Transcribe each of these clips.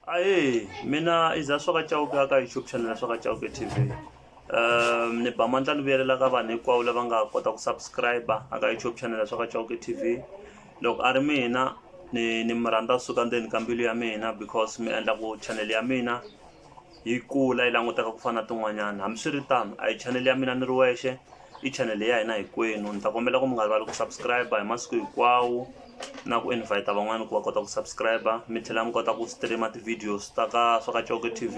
ae mina iza swa ka cauke a ka youtube channel ya swa ka cauke tv um ni ba mandla ni vuyelela ka vanhu hinkwavo lava nga kota ku subscribe a ka youtube channel ya swa ka cauke tv loko a ri mina ni ni mi rhandza kusuka ndzeni ka mbilu ya mina because mi endla ku channel ya mina Yi kula yi languteka ku fana na tin'wanyana hambiswiritano a hi chanele ya mina ni ri wexe i chanele ya hina hinkwenu ni ta kombela ku mi nga rivali ku subscribe hi masiku hinkwawo na ku invite van'wani ku va kota ku subscribe mi tlhela mi kota ku stream ti-videos ta ka swa ka Coke T_V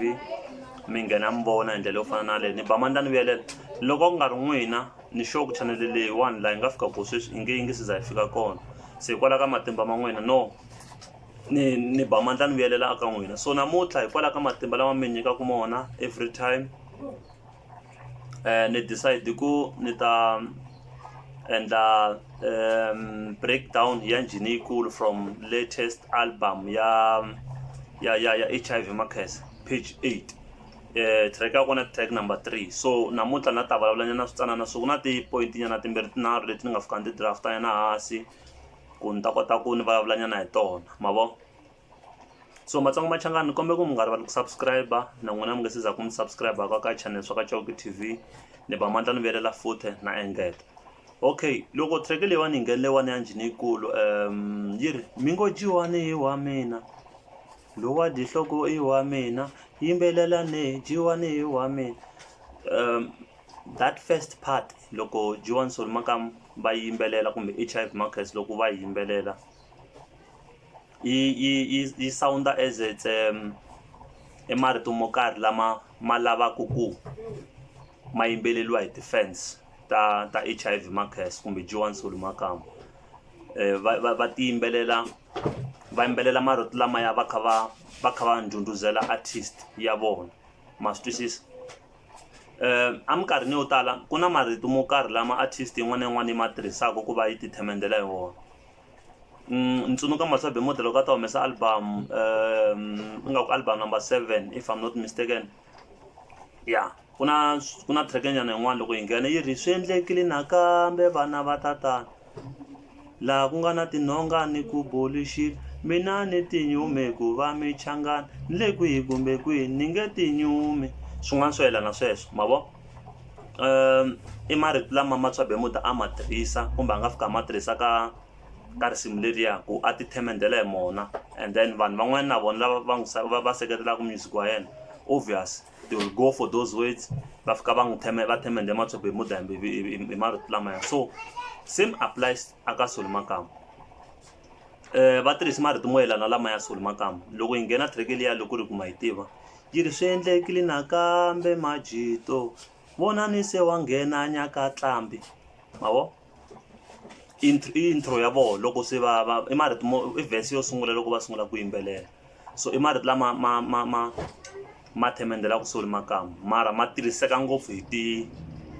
mi nghena mi vona hi ndlela yo fana na leyi ni ba mandla ni vuyelela loko ku nga ri n'wina ni sure ku chanele leyiwani laha yi nga fika ko sweswi i nge yi nge se za yi fika kona se hikwalaho ka matimba ma n'wina no ni ni ba mandla ni vuyelela aka n'wina so namuntlha hikwalaho ka matimba lama mi nyikaka mona every time um ni decide ku ni ta endla um breakdown ya njhini yikulu from latest album ya ya ya ya h i v makhesa page eight um track ya kona track number three so namuntlha na ta vulavulanyana switsanana so ku na ti-point nyana timbirhi tinharhu leti ni nga fika ni ti draftanyana hansi ku ni ta kota ku ni vulavula nyana hi tona ma vo so matsongo machangani ni kombela ku mi nga rivali ku subscribe na n'wina mi nga se za ku mi subscribe ka ka channel swa ka chauki tv ni ba mandla ni vuyelela futhi na engeta okay loko track leyiwani yi nghenile wani ya njhini yikulu um yi ri mi ngo jiwani hi wa mina lowa dihloko i wa mina yimbelelane jiwani hi wa mina um that first part loko G1 Soul Makam va yimbelela kumbe HIV Markets loko va yimbelela yi yi yi yi sound as it's um i marito mo karhi lama ma lavaka ku ma yimbeleriwa hi ti-fans ta ta H_I_V Markets kumbe G1 Soul Makam va va va ti yimbelela va yimbelela marito lamaya va kha va va kha va ndhundhuzela artist ya vona ma swi twisisa. Um eminkarhini yo tala ku na marito mo karhi lama artist yin'wana na yin'wana yi ma tirhisaka ku va yi ti themendela hi wona ni tsundzuka Masobe Mode loko a ta humesa album um ingaku album number seven if I'm not mistaken ya ku na ku na track-e nyana yin'wana loko yi nghena yi ri swi endlekile nakambe vana va tatana. laha ku nga na tinhonga ni ku boluxila mina ni tinyume ku va michangani ni le kwihi kumbe kwihi ni nge tinyumi swin'wana swo yelana sweswo ma vo um i marito lama matswabe muti a ma tirhisa kumbe a nga fika a ma tirhisa ka ka risimu leriya ku a ti themendela hi mona and then vanhu van'wani na vona lava va n'wi va va seketelaka music wa yena obvious they will go for those words va fika va n'wi theme va themende matshopo hi mudambi hi marito lamaya so same applies aka soli makamba um va tirhisi marito mo yelana lamaya soli makamba loko yi nghena treke liya loko ri kuma yi tiva yi ri swi endlekile nakambe majito vona ni se wa nghena nyaka tlambi mavo i i intro ya vona loko se va va i marito mo i verse yo sungula loko va sungula ku yimbelela so i marito lama ma ma ma ma themendelaka soli makamu mara ma tirhiseka ngopfu hi ti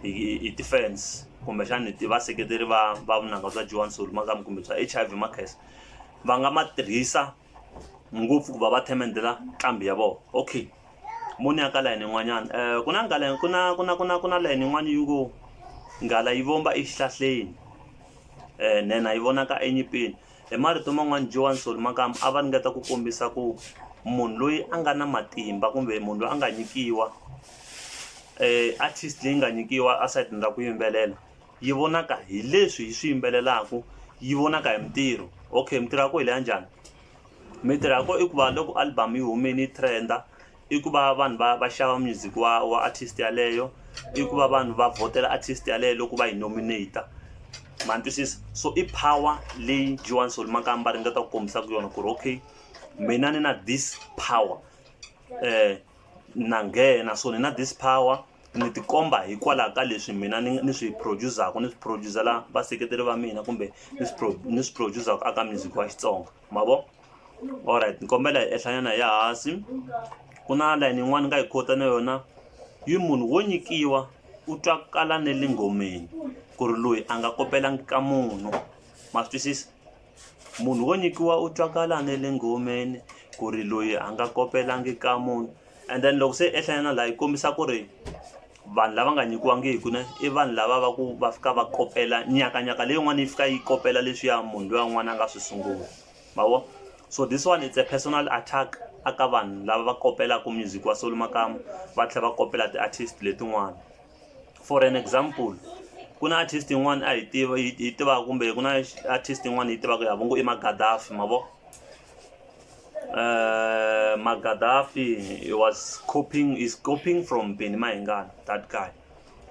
hi hi ti-fans kumbexana hi ti vaseketeri va va vunanga bya Joan Soli makamu kumbe bya H_I_V Makhensa va nga ma tirhisa. ngopfu ku va va themendela nqambi ya vona okay mo ni ya ka layini yin'wanyana um ku na ngala ku na ku na ku na ku na layini yin'wana yi ngo nghala yi vomba exihlahleni um nhenha yi vonaka enyipini hi marito man'wani joan solomakam a va ringeta ku kombisa ku munhu loyi a nga na matimba kumbe munhu loyi a nga nyikiwa um artist leyi nga nyikiwa asayitini ra ku yimbelela yi vonaka hi leswi hi swi yimbelelaka yi vonaka hi mintirho okay mintirho ya ko hi leya njhani mintirho ya ko i ku va loko album yi humini yi trenda i ku va vanhu va va xava music wa wa artist yaleyo i ku va vanhu va vhotela artist yaleyo loko va yi nominate ma ni twisisa so i power leyi Joan Sol Makamba ringeta ku kombisaka yona ku ri okay mina ni na this power na nghena so ni na this power ni ti komba hikwalaho ka leswi mina ni ni swi producer-ku ni swi producer-la vaseketeri va mina kumbe ni swi pro ni swi producer-ku aka music wa xitsonga ma vo alright ni kombela hi ehlanyana ya hansi ku na layini yin'wani nga yi khota na yona yi munhu wo nyikiwa u twakala ne le nghomeni ku ri loyi a nga kopelangi ka munhu ma swi twisisa munhu wo nyikiwa u twakala ne le nghomeni ku ri loyi a nga kopelangi ka munhu and then loko se ehlanyana laha yi kombisa ku ri vanhu lava nga nyikiwangiki ne i vanhu lava va ku va fika va kopela nyakanyaka leyin'wana yi fika yi kopela leswiya munhu loyi un'wana a nga swi sungula mavo so this one it's a personal attack aka vanhu lava va kopelaka music wa solo makama va tlhela va kopela ti-artist letin'wana for an example ku na artist yin'wana a hi tiva yi tivaka kumbe ku na artist yin'wana yi tivaka ya vongo i magadafi mavo Uh, Magadafi he was copying is copying from Benny Mayengani that guy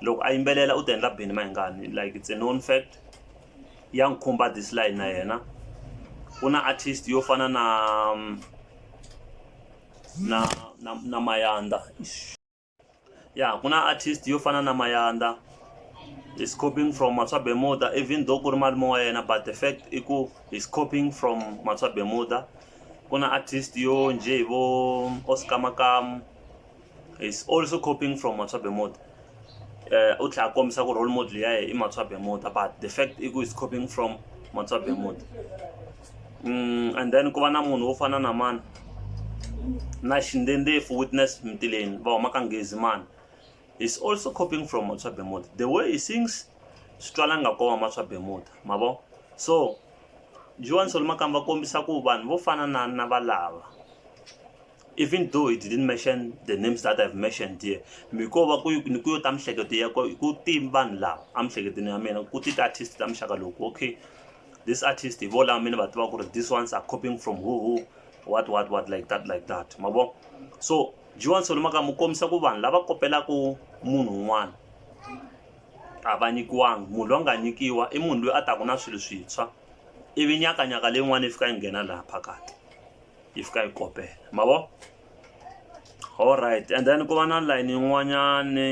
loko a yimbelela u ti endla Benny Mayengani like it's a known fact ya n'wi khumba this line na yena ku na artist yo fana na na na, na Mayanda ya ku na artist yo fana na mayanda is copying from matswa bemuda even though ku ri malume wa yena but the fact i ku is copying from matswa bemuda ku na artist yo nje hi vo oscar makamu is also copying from matswa bemuda uh, u tlhela kombisa ku role model ya yena i matswa bemuda but the fact i ku is copying from matswa bemuda and then ku va na munhu wo fana na mani na xindendefo witness mtileni va huma ka ngezi mani is also copying from matswa bemuda the way he sings swi twala nga koma matswa bemuda ma vo so joan solomakam va kombisa ku vanhu vo fana na na valava even though he didn't mention the names that i've mentioned here miko va ku ni ku yo ta mihleketo ya ku ti vanhu lava a mihleketweni ya mina ku ti ti-artist ta muxaka loku okay this artist hi vo lama mi ni va tiva ku ri this ones are copying from who who what what what like that like that ma vo so jiwan solo maka mi kombisa ku vanhu lava kopelaka munhu un'wana a va nyikiwangi munhu loyi a nga nyikiwa i munhu loyi a taku na swilo swintshwa ivi nyakanyaka leyin'wana yi fika yi nghena laha phakati yi fika yi kopela ma vo all right and then ku va na layini yin'wanyani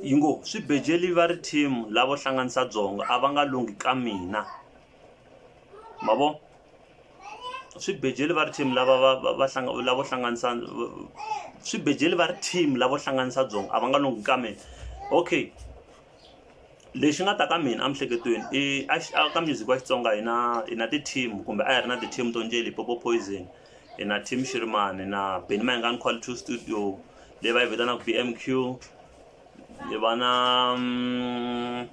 Yi ngo, Swibejeli va ri team lavo hlanganisa byongo a va nga lunghi ka mina. Ma vo? Swibejeli va ri team lava va va va hlanga lavo hlanganisa swibejeli va ri team lavo hlanganisa byongo a va nga lunghi ka mina. Okay lexi nga ta ka mina emiehleketweni i a ka music wa Xitsonga hi na hi na ti-team kumbe a hi ri na ti-team to njhe Limpopo Poison. hi na team shirimani hi na beni mayingani qual two studio leyi va yi vitanaka b m q hi va na mm,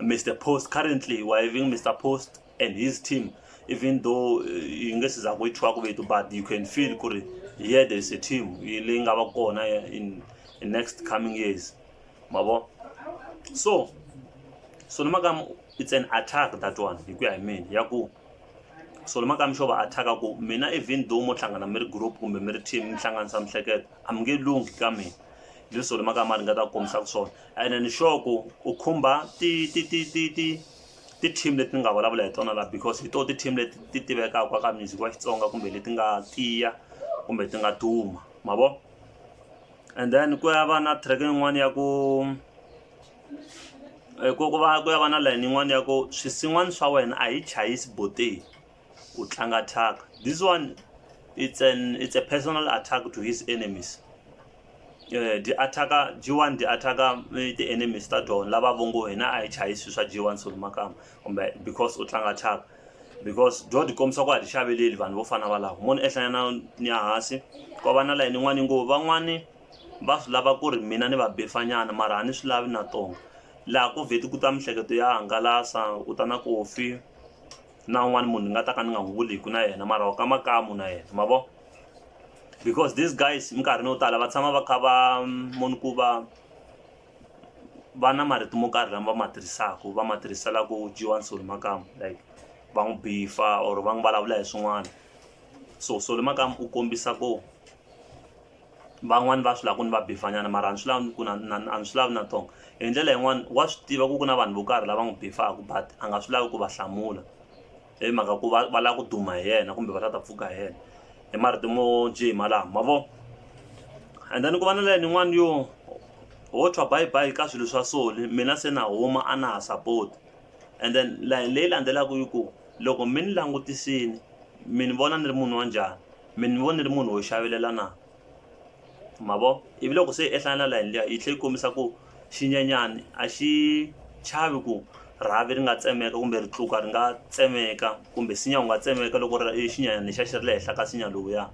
mr post currently we're having mr post and his team even though eh, yi nge siza ku yi thyiwa ku vito but you can feel ku ri yeah there is a team yi- leyi nga va kona eh, in in next coming years ma vo so so ni maka it's an attack that one hi ku ya hi mina ya ku so makami xo va attack-a ku mina even though mo hlangana mi ri group kumbe mi ri team mi hlanganisa mihleketo a mi nge lunghi ka mina leswo le makama ri nga ta kombisaka swona and then sure ku u khumba ti ti ti ti ti ti-team leti ni nga vulavula hi tona laha because hi to ti-team leti ti tivekaka ka music wa xitsonga kumbe leti nga tiya kumbe ti nga duma ma vo and then ku ya va na track yin'wana ya ku Hi ku ku va ku ya va na layeni yin'wani ya ku swisin'wana swa wena a hi chayisi boteni u tlanga thyaka this one it's an it's a personal attack to his enemies dyi attack-a G one dyi attack-a ti-enemies ta tona lava vo ngo hina a hi chayisi swilo swa G one Solly Makamba kumbe because u tlanga thyaka because byo ti kombisa ku a ti xaveleli vanhu vo fana na valavo mo ni ehlanya na ni ya hansi ku va na layeni yin'wani yi ngo van'wani. va swi lava ku ri mina ni va befanyana mara a ni swi lavi na tona laha ko vheti ku ta mihleketo ya hangalasa u ta na kofi na un'wana munhu ni nga ta ka ni nga n'wi vuli hi ku na yena mara wa ka makamu na yena ma vo because these guys minkarhini yo tala va tshama va kha va munhu ku va va na marito mo karhi lama va ma tirhisaka va ma tirhisela ku dyiwa nsoli makamu like va n'wi bifa or va n'wi vulavula hi swin'wana so soli makamu u kombisa ku Van'wani va swi lava ku ni va bifanyana mara a ni swi lavi ku na na a ni swi lavi na tong hi ndlela yin'wani wa swi tiva ku ku na vanhu vo karhi lava n'wi bifaku but a nga swi lavi ku va hlamula hi mhaka ku va va lava ku duma hi yena kumbe va la ta pfuka hi yena hi marito mo njhe hi malamo ma vo and then ku va na layeni yin'wani yo ho thwa bye bye ka swilo swa soli mina se na huma a na ha support and then layeni leyi landzelaka yi ku loko mi ni langutisini mi ni vona ni ri munhu wa njhani. mi ni vona ni ri munhu wo xavelela na ma vo ivi loko se i ehlana na layeni liya yi tlhe yi kombisa ku xinyenyani a xi chavi ku rhavi ri nga tsemeka kumbe ri tluka ri nga tsemeka kumbe sinya wu nga tsemeka loko ri i xinyanyana lexa xi ri le henhla ka sinya lowuya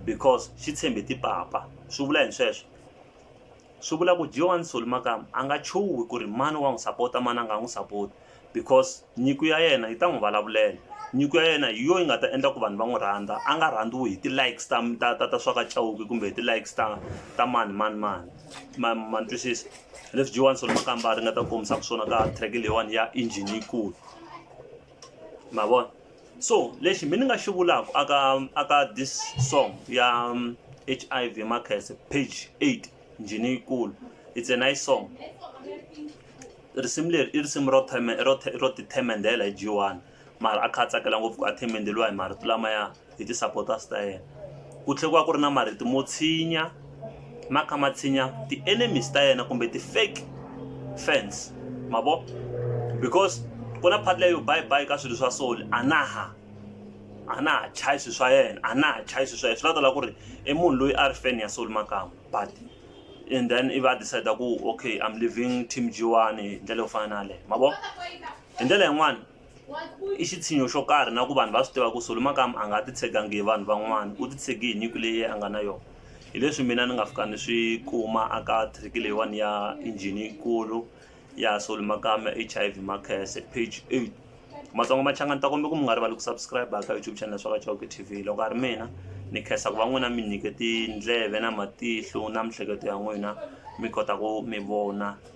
because xi tshembe tipapa swi vula yini sweswo. Swi vula ku Joan Soli Makam a nga chuhi ku ri mani wa n'wi sapota mani a nga n'wi sapoti because nyiko ya yena yi ta n'wi vulavulela nyiko ya yena hi yo yi nga ta endla ku vanhu va n'wi rhandza a nga rhandziwi hi ti-likes ta ta ta ta swa ka Chauke kumbe hi ti-likes ta ta mani mani mani ma ma ni twisisa leswi Joan Soli Makam va ringeta ku kombisaka swona ka track leyiwani ya engine yikulu. ma vona so lexi mi ni nga xi vulaka aka aka this song ya um, h i v makhese page 8 njhini yikulu it's a nice song risimu leri i risimu ro ro ro tithemendela hi g1 mara a kha a tsakela ngopfu ku a themendeliwa hi marito lamaya hi ti-supporters ta yena ku tlhela ku va ku ri na marito mo tshinya ma kha ma tshinya ti-enemies ta yena kumbe ti-fake fans ma vo because ku na part leyo bye bye ka swilo swa soul a na ha a na ha chayi swilo swa yena a na ha chayi swilo swa yena swi nga ta lava ku ri i munhu loyi a ri fan ya soul makama but and then i va decide ku okay I'm leaving team G1 hi ndlela yo fana na yaleyo ma vo hi ndlela yin'wani i xitshinyo xo karhi na ku vanhu va swi tiva ku solo makamu a nga ti tshegangi hi vanhu van'wana u ti tshegi hi nyiko leyi a nga na yona hi leswi mina ni nga fika ni swi kuma aka trick leyiwani ya injhini yikulu ya solo makamu ya h i v makhese page eight matsongo machangani ta kombe ku mi nga rivali ku subscribe ka youtube channel swa vachauke t v loko a ri mina ni khensa ku va n'wina mi nyike tindleve na matihlo na miehleketo ya n'wina mi kota ku mi vona